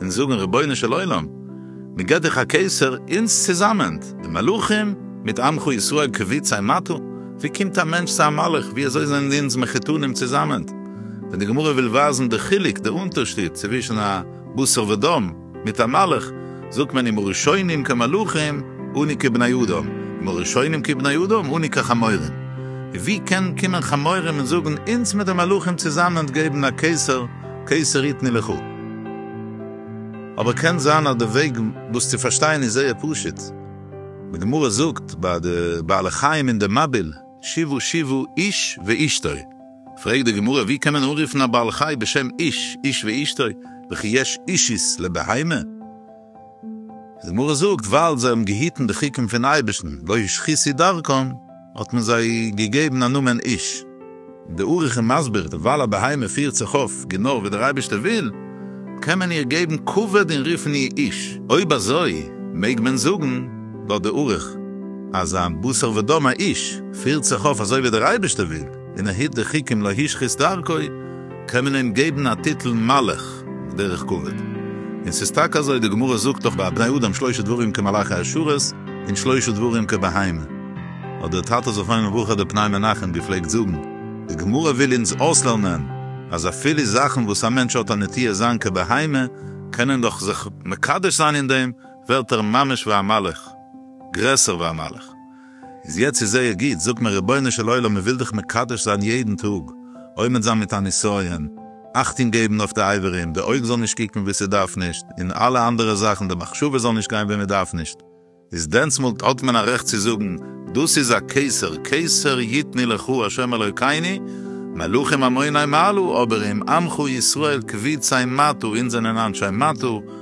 און זאגן רבונו של עולם מ'געט דיך א קיסר אונז צוזאמען די מלכים מיט עמך ישראל כביצי מטה ווי קומט א מענטש צו א מלך ווי אזוי זענען אונז מחותנים צוזאמען ווען די גמרא וויל ווייזן די חילוק די אונטערשיד צווישן א בשר ודם מיט א מלך זאגט מען אם הראשונים כמלכים אני כבני אדם אם הראשונים כבני אדם אני כחמורים ווי קען קומען חמורים און זאגן אונז מיט די מלכים צוזאמען געבן א קיסר קעיסער איט מי לכו. אבער קען זיין אז די וועג דאס צו פארשטיין איז זייער פשוט. די גמרא זאגט ביי די בעלי חיים אין די מבול, שיבו שיבו איש ואשתו. פרעגט די גמרא ווי קען מען אנרופן א בעל חי בשם איש, איש ואשתו, וכי יש אישית לבהמה? איז די גמרא זאגט ווייל זיי האבן געהיטן די חוקים פון אייבערשטן, לא השחיתי דרכם. האט מען זיי געגעבן א נאמען איש. די אריך איז מסביר, ווייל א בהמה פירט זיך אויף גענוי ווי דער אייבערשטער וויל, קען מען איר געבן כבוד און רופן איר איש. אויב אזוי, מעג מען זאגן, לויט די אריך, אז א בשר ודם א איש, פירט זיך אויף אזוי ווי דער אייבערשטער וויל. און ער היט די חוקים לא השחית דרכו, קען מען אים געבן א טיטל מלך דרך כבוד. און ס'איז טאקע אזוי, די גמרא זאגט דאך ביי בני אדם שלושה דברים כמלאכי השרת און שלושה דברים כבהמה. האט דער טאטע זכרונו לברכה דער פני מנחם געפלעגט זאגן, די גמרא וויל אונז אויסלערנען אז אפילו זאכן וואס א מענטש האט א נטייה זיין כבהמה, קען ער דאך זיך מקדש זיין אין דעם, ווערט ער ממש ווי א מלך, גרעסער ווי א מלך. איז יעצט איז זייער גוט, זאגט מען רבונו של עולם מען וויל דיך מקדש זיין יעדן טאג, עומד זיין מיט א נסיון, אכטונג געבן אויף די אברים, די אויג זאל נישט קוקן וואו ס'דארף נישט, און אלע אנדערע זאכן, די מחשבה זאל נישט גיין וואו מען דארף נישט, איז דענסמאל האט מען א רעכט צו זאגן, דאס איז א קיסר, קיסר יתני לך הוא השם אלוקינו, מלכים עמוני מעלו, אברים עמך ישראל כביצי מטו, אונז זענען אנשי מטו,